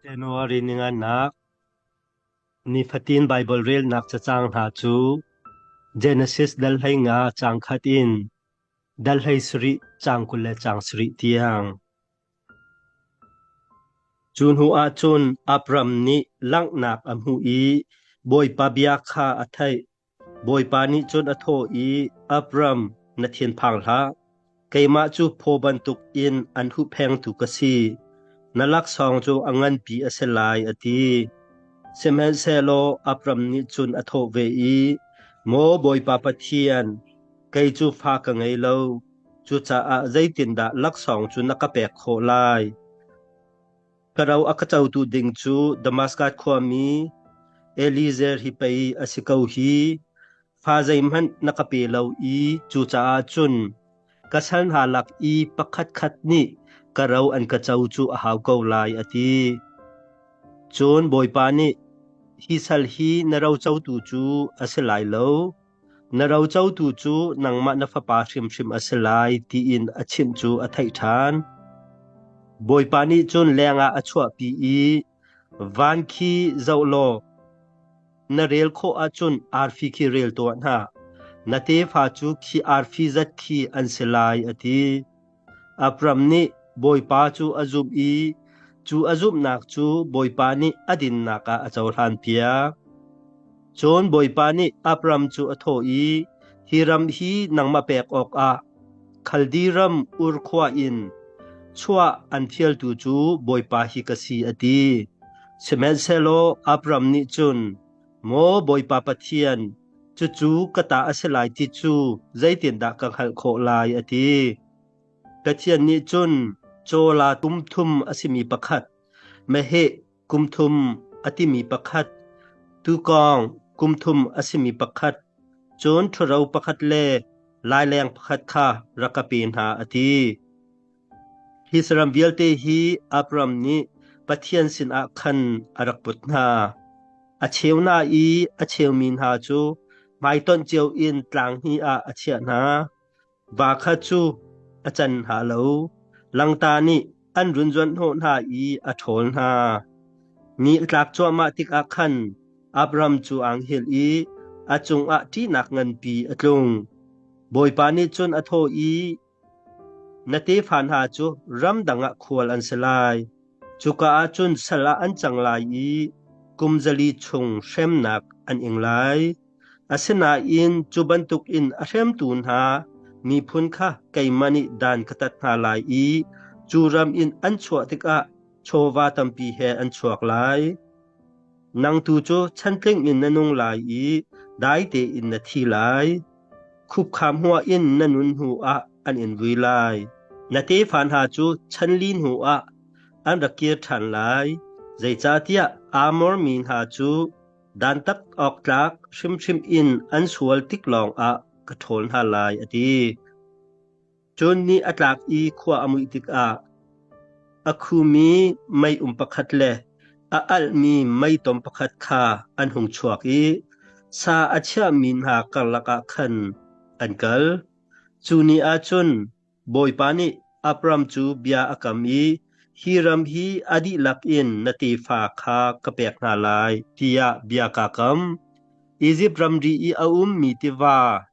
January ningannak Nifatin Baibal relnak cacang hna cu Genesis dal hlei nga caang khat in dal hlei sarih caang kul le caang sarih tiang. Cu hnuah cun Abram nih langhnak a hmuh i Bawipa bia kha a theih. Bawipa nih cun a thawh i, Abram, na thinphang hlah. Keimah cu phaw bantukin an huhphengtu ka si; na laksawng cu a nganpi a si lai, a ti. Sihmanhsehlaw Abram nih cun a thawh ve i, Maw Bawipa Pathian, kei cu fa ka ngei lo; cucaah zeitindah laksawng cu na ka pek khawh lai? Ka ro a ka cotu ding cu Damaskas khuami Eliezer hi pei a si ko hi. Fa zeihmanh na ka pe lo i cucaah cun ka sal hna lak i pakhat khat nih ka ro an ka co cu a hau ko lai, a ti. Cun Bawipa nih, Hi sal hi na rocotu cu a si lai lo. Na rocotu cu nangmah na fapa hrimhrim a si lai tiin a chimh cu a theih ṭhan. Bawipa nih cun lengah a chuahpi i, “Van khi zoh law, na rel khawh ahcun arfi khi rel tuah hna; na tefa cu khi arfi zat khi an si lai,” a ti. Abram nih Bawipa cu a zumh i cu a zumhnak cu Bawipa nih a dinnak ah a cohlanpiak. Cun Bawipa nih Abram cu a thawh i, Hi ram hi nangmah pek awkah Khaldiram Ur khua in chuah an fialtu cu Bawipa hi ka si, a ti. Sihmanhsehlaw Abram nih cun, Maw Bawipa Pathian, cucu ka ta a si lai ti cu zeitindah ka hngalh khawh lai, a ti. Pathian nih cun cawla tum thum a simi pakhat, meheh kum thum a timi pakhat, tuukawng kum thum a simi pakhat, cun ṭhuro pakhat le laileng pakhat kha rak ka pe hna, a ti. Hi saram vialte hi Abram nih Pathian sinah khan a rak put hna. A cheu hna i a cheumi hna cu hmaitonh cio in tlang hnih ah a chiah hna. Va kha cu a can hna lo. Langta nih an runzuan hnawh hna i a ṭhawl hna. Ni a tlak cuahmah tikah khan Abram cu anghel i a cungah ṭihnak nganpi a tlung. Bawipa nih cun a thawh i, Na tefa hna cu ramdang ah khual an si lai. Cuka ah cun sal ah an cang lai i kum zali chung hremnak an ing lai. Asinain cu bantukin a hremtu hna miphun kha keimah nih dan ka tat hna lai i cu ram in an chuah tikah chawva tampi he an chuak lai. Nang tu cu chan tling in na nung lai i dai tein na thi lai. Khupkham hua in na nun hnu ah an in vui lai. Na tefa hna cu chan li hnu ah an ra kir ṭhan lai. Zeicahtiah Amor mi hna cu dantat awk tlak hrimhrim in an sual tik lawngah ka ṭhawl hna lai, a ti. Cun ni a tlak i khua a muih tikah a khumi meium pakhat le a alhmi meitom pakhat kha an hung chuak i sa a chiahmi hna karlak ah khan an kal. Cu ni ah cun Bawipa nih Abram cu bia a kam i, Hi ram hi a dihlak in na tefa kha ka pek hna lai, tiah bia kaa kam. Izipt ramri i a ummi tiva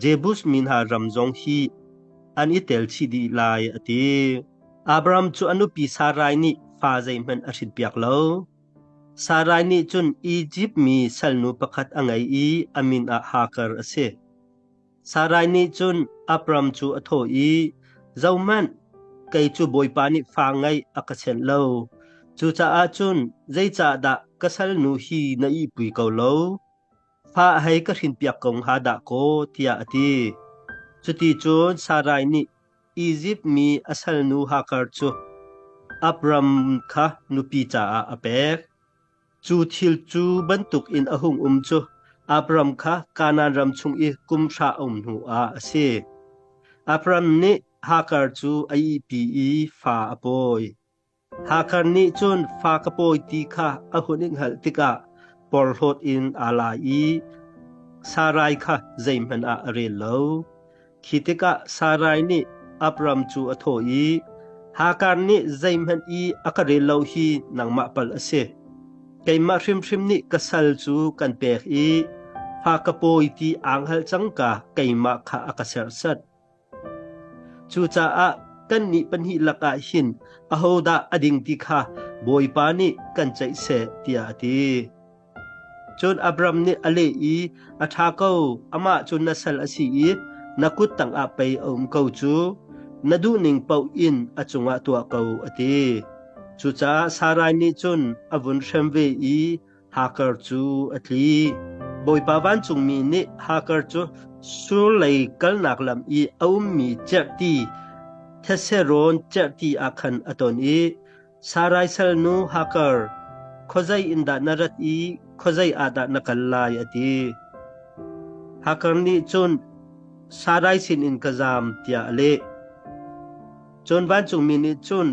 Jebus mi hna ram zong hi an i tel chih dih lai a ti. Abram cu a nupi Sarai nih fa zeihmanh a hrinpiak lo. Sarai nih cun Izipt mi salnu pakhat a ngei i a min ah Hagar a si. Sarai nih cun Abram cu a thawh i, Zohmanh, kei cu Bawipa nih fa ngeih a ka senh lo. Cucaah cun zeicahdah ka salnu hi na ihpui ko lo? Fa hei ka hrinpiak ko hnga dah kaw, tiah a ti. Cuti cun Sarai nih Izipt mi a salnu Hagar cu Abram kha nupi caah a pek. Cu thil cu bantuk in a hung um cu Abram kha Kanaan ram chung i kum hra a um hnuah a si. Abram nih Hagar cu a ihpi i fa a pawi. Hakhar nih cun fa ka pawi ti kha a hun in hngalh tikah porhlawt in aa la i Sarai kha zeihmanh ah a rel lo. Khi tikah Sarai nih Abram cu a thawh i, Hakhar nih zeihmanh i a ka rel lo hi nangmah pal a si. Keimah hrimhrim nih ka sal cu kan pek i fa ka pawi ti aa hngalh cangka keimah kha a ka serhsat. Cucaah kannih pahnih lakah hin ahodah a ding ti kha Bawipa nih kan ceih seh tiah a ti. Cun Abram nih a leh i, “A ṭha ko, amah cu na sal a si i na kut tangah pei a um ko cu. Na duhning paoh in a cungah tuah ko,” a ti. Cucaah Sarai nih cun a vun hrem ve i Hagar cu a tli. Bawipa vancungmi nih Hagar cu surlei kalnak lam i a ummi cerhti theserawn cerhti ah khan a ton i Sarai salnu Hagar, khuazei in dah na rat i khuazei ah dah na kal lai? a ti. Hagar nih cun Sarai sinin ka zaam tiah a leh. Cun vancungmi nih cun,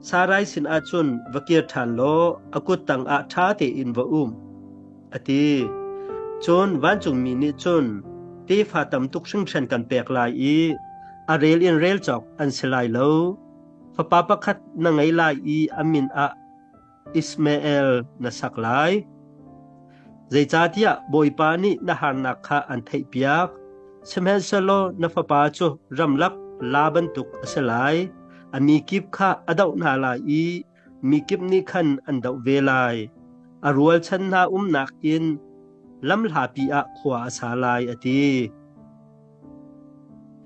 Sarai sinah cun va kir ṭhan law a kut tangah ṭha tein va um, a ti. Cun vancungmi nih cun, Tefa tam tuk hringhran kan pek lai i a rel in rel cawk an si lai lo. Fapa pakhat na ngei lai i a min ah Ismael na sak lai. Zeicahtiah Bawipa nih na harnak kha an theihpiak, sihmanhsehlaw na fapa cu ramlak la bantuk a si lai. A mikip kha a doh hna lai i mikip nih khan an doh ve lai. A rualchan hna umnak inn lamhlapi ah khua a sa lai, a ti.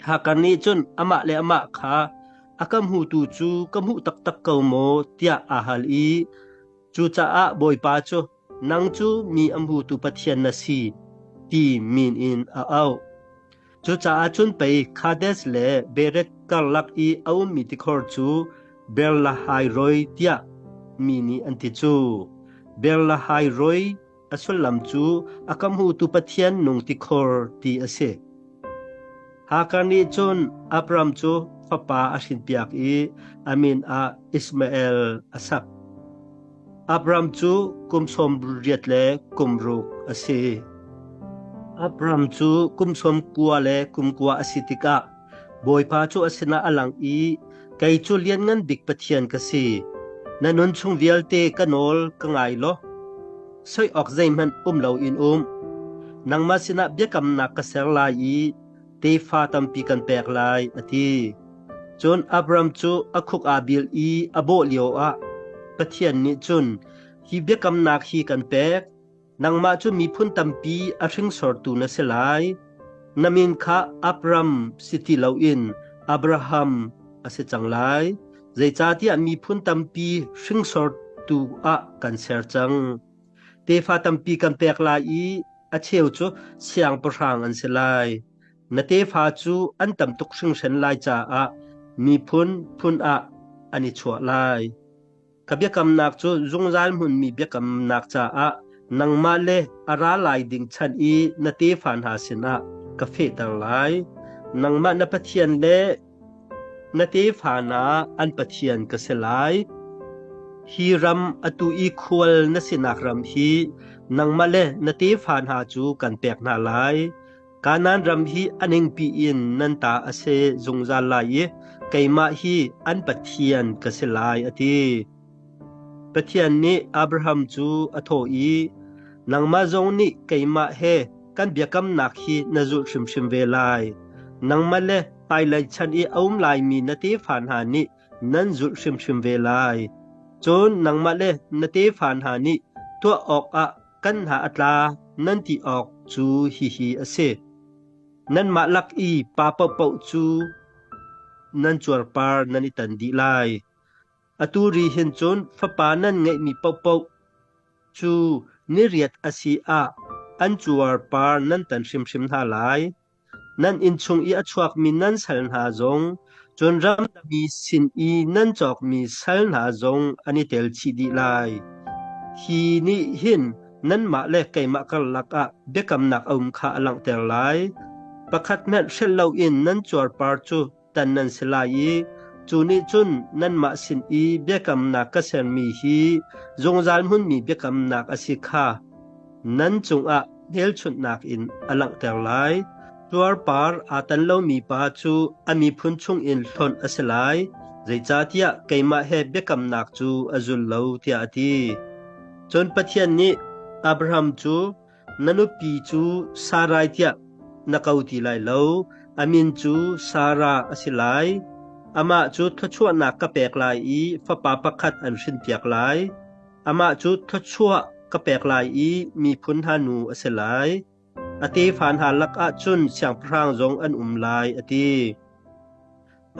Hagar nih cun amah le amah kha A ka hmutu cu ka hmuh taktak ko maw tiah a hal i cucaah Bawipa cu nang cu mi a hmutu Pathian na si ti min in a auh. Cucaah cun pei Kades le Bereth karlak i a ummi tikhor cu Berlahairoi tiah mi nih an ti cu. Berlahairoi A sullam cu a ka hmutu Pathian nung tikhor ti a si. Hakar nih cun Abram cu fapa a hrinpiak i a min ah Ismael a sak. Abram cu kum sawm riat le kum ruk a si. Abram cu kum sawm kua le kum kua a si tikah Bawipa cu a sinah a lang i, Kei cu Lianngan Bik Pathian ka si. Na nunchung vialte ka nawl ka ngai law, soih awk zeihmanh um loin um. Nangmah sinah biakamnak ka ser lai i tefa tampi kan pek lai, a ti. Cun Abram cu a khuk aa bil i a bawh lioah Pathian nih cun, Hi biakamnak hi kan pek, nangmah cu miphun tampi a hringsortu na si lai. Na min kha Abram si ti loin Abraham a si cang lai. Zeicahtiah miphun tampi hringsortu ah kan ser cang. Tefa tampi kan pek lai i a cheu cu siangpahrang an si lai. Na tefa cu an tam tuk hringhren lai caah miphun phun ah an i chuah lai. Ka biakamnak cu zungzal hmunmi biakamnak caah nangmah le a ra lai ding chan i na tefa hna sinah ka fehter lai. Nangmah na Pathian le na tefa hna an Pathian ka si lai. Hi ram a tu i khual na sinak ram hi nangmah le na tefa hna cu kan pek hna lai. Kanaan ram hi a ningpi in nan ta a si zungzal lai i keimah hi an pathian ka si lai, a ti. Pathian nih Abraham cu a thawh i, Nangmah zong nih keimah he kan biakamnak hi na zulh hrimhrim ve lai. Nangmah le hmailei chan i a um laimi na tefa hna nih nan zulh hrimhrim ve lai. Cun nangmah le na tefa hna nih tuah awkah kan hna a tla nan ti awk cu hihi a si. Nanmah lak i pa paohpaoh cu nan cuarpar nan i tan dih lai. Atu ri hin cun fapa nan ngeihmi paohpaoh cu ni riat a si ah an cuarpar nan tan hrimhrim hna lai. Nan innchung i a chuakmi nan sal hna zong, cun ramdangmi sin i nan cawkmi sal hna zong an i tel chih dih lai. Hi nih hin nanmah le keimah karlak ah biakamnak a um kha a langhter lai. Pakhat hmanh hrelh loin nan cuarpar cu tan nan si lai i cu nih cun nanmah sin i biakamnak ka sermi hi zungzal hmunmi biakamnak a si kha nan cungah hmelchunhnak in a langhter lai. Tuarpar aa tan lomi pa cu a miphun chungin hlonh a si lai, zeicahtiah keimah he biakamnak cu a zul lo, tiah a ti. Cun Pathian nih Abraham cu Na nupi cu Sarai tiah na ko ti lai lo; a min cu Sara a si lai. Amah cu thluachuahnak ka pek lai i fapa pakhat an hrinpiak lai. Amah cu thluachuah ka pek lai i miphun hna nu a si lai. A tefa hna lakah cun siangpahrang zong an um lai, a ti.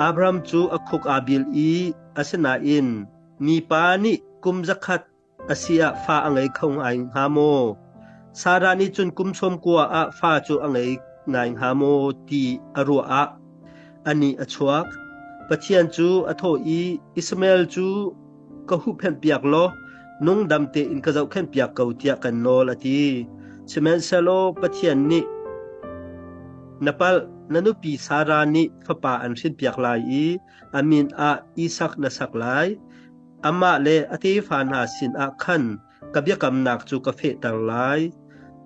Abram cu a khuk aa bil i asinain mipa nih kum zakhat A si ah fa a ngei kho ngai hnga maw? Sarah nih cun kum sawm kua ah fa cu a ngei ngai hnga maw ti a ruah ah a nih a chuak. Pathian cu a thawh i, Ismael cu ka huhphenh piak law nungdam tein ka zohkhenh piak ko tiah kan nawl a ti. Sihmanhsehlaw Pathian nih na palh na nupi Sarah nih fapa an hrin piak lai i a min ah Isak na sak lai. Amah le a tefa hna sinah khan ka biakamnak cu ka fehter lai.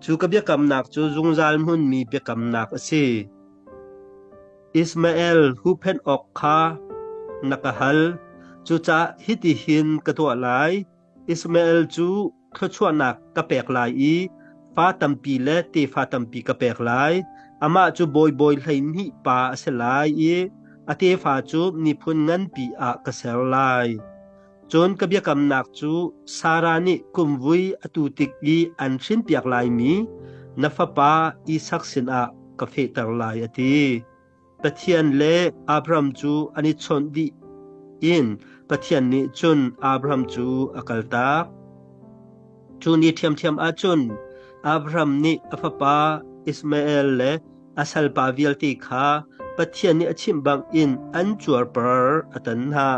Cu ka biakamnak cu zungzal hmunmi biakamnak a si. Ismael huhphenh awk kha na ka hal, cucaah hitihin ka tuah lai: Ismael cu thluachuahnak ka pek lai i fa tampi le tefa tampi ka pek lai. Amah cu bawibawi hleihnih pa a si lai i a tefa cu miphun nganpi ah ka ser lai. Cun ka biakamnak cu Sarah nih kumvui a tu tik i an hrinpiak laimi na fapa Isak sinah ka fehter lai, a ti. Pathian le Abraham cu an i chawnh dih in Pathian nih cun Abraham cu a kaltak. Cu ni ṭhiamṭhiam ah cun Abraham nih a fapa Ishmael le a salpa vialte kha Pathian nih a chimh bangin an cuarpar a tan hna.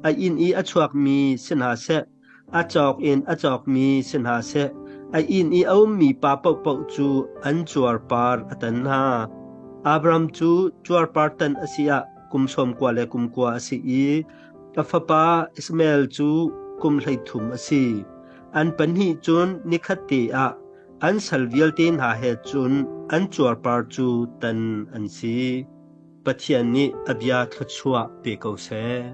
A inn i a chuakmi si hna seh, A cawk in a cawkmi si hna seh, a inn i a ummi pa paohpaoh cu an cuarpar a tan hna. Abram cu cuarpar tan a si ah kum sawmkua le kum kua a si i a fapa Ishmael cu kum hleithum a si. An pahnih cun nikhatte ah an sal vialte hna he cun an cuarpar cu tan an si. Pathian nih a bia thluachuah pe ko seh.